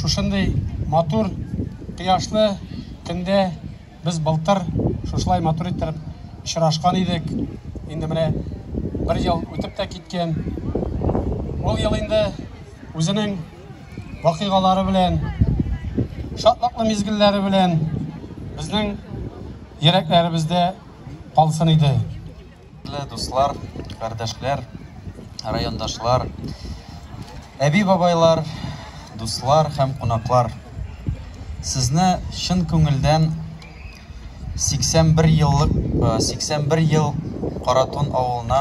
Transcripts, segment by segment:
Шушындый матур кояшлы көндә без былтыр шушылай матур иттереп очрашкан идек. Инде менә бер ел үтеп тә киткән. Ул ел инде үзенең вакыйгалары белән, шатлыклы мизгелләре белән безнең йөрәкләребездә калсын иде. Хөрмәтле дуслар, кардәшләр, райондашлар, әби-бабайлар, дуслар һәм кунаклар! Сезне чын күңелдән 81 еллык 81 ел Каратун авылына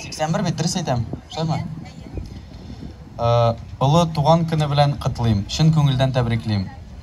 81 бит, дөрес әйтәм, шулаймы? Олы туган көне белән котлыйм, чын күңелдән тәбриклим!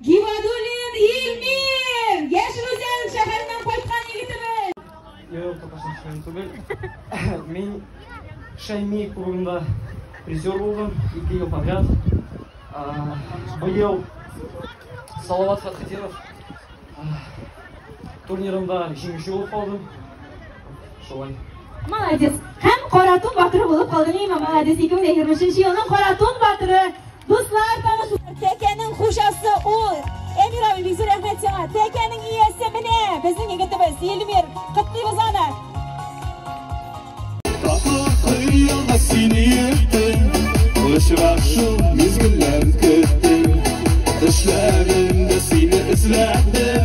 Гибадуллин Илмир! Яшел Үзән шәһәреннән кайткан егетебез! Юк, татарстан шәһәрен түгел. Мин Шәйми кубогында призер булдым, ике ел подряд. Быел Салават Фатхетдинов турнирында җиңүче булып калдым. Шулай. Молодец. Һәм Каратун батыры булып калды. Мима, молодец. 2023 елның Каратун батыры. Дуслар, таныш. Тәкәнең хужасы ул. Эмир абый, бик зур рәхмәт сиңа. Тәкәнең иясе менә. Безнең егетебез Эльмир. Котлыйбыз аны. Сине ертем, очрак шул мизгелләр көттем, эшләдем дә сине эзләдем.